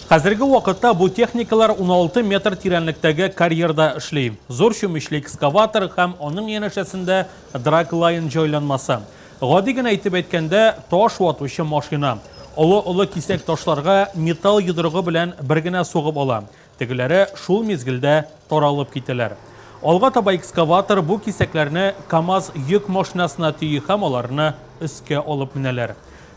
Хәзерге вакытта бу техникалар 16 метр тирәнлектәге карьерда эшли. Зур чүмечле экскаватор һәм аның янәшәсендә драглайн җайланмасы. Гади генә итеп әйткәндә, таш ватучы машина. Олы-олы кисәк ташларга металл йодрыгы белән бер генә сугып ала. Тегеләре шул мизгелдә таралып китәләр. Алга таба экскаватор бу кисәкләрне КАМАЗ йөк машинасына төйи һәм аларны өскә алып менәләр.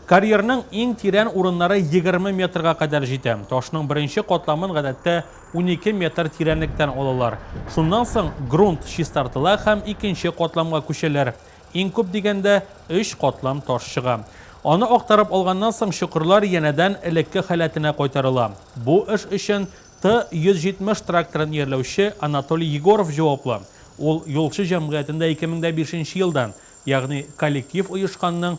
Карьерның иң тирән урыннары егерме метрга кадәр җитә. Ташның беренче катламын гадәттә унике метр тирәнлектән алалар. Шуннан соң грунт чистартыла һәм икенче катламга күчәләр. Иң күп дигәндә, өч катлам таш чыга. Аны актарып алганнан соң, чокырлар янәдән элекке халәтенә кайтарыла. Бу эш өчен Т-170 тракторын иярләүче Анатолий Егоров җаваплы. Ул Юлчы җәмгыятендә 2005 нче елдан, ягъни коллектив оешканның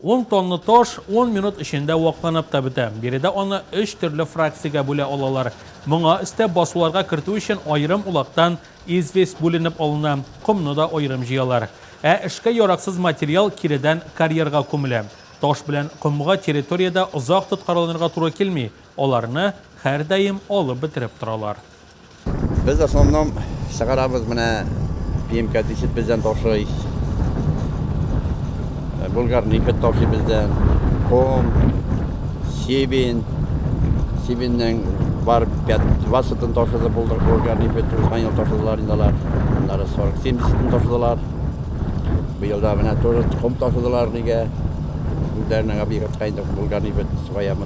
Ун тонна таш ун минут эчендә вакланып та бетә. Биредә аны өч төрле фракциягә бүлә алалар. Моңа өстәп, басуларга кертү өчен аерым улактан известь бүленеп алына, комны да аерым җыялар. Ә эшкә яраксыз материал киредән карьерга күмелә. Таш белән комга территориядә озак тоткарланырга туры килми, аларны һәрдаим алып бетереп торалар. Без основном чыгарабыз менә пиемка дисит бездән ташый. Э, Булгар нефть ташый бездән. Ком, сибин, сибиннең бар васытын ташыды булдык. Булгар нефть узган ел ташыдылар инде алар. Аннары 40-70-тен ташыдылар. Быел да менә тоже ком ташыдылар нигә. Үзләренең объектка инде булгар нефть сугаямыз.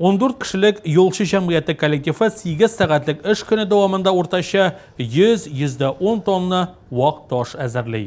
Ундүрт кешелек юлчы җәмгыяте коллективы сигез сәгатьлек эш көне дәвамында уртача 100-110 тонна вак таш әзерли.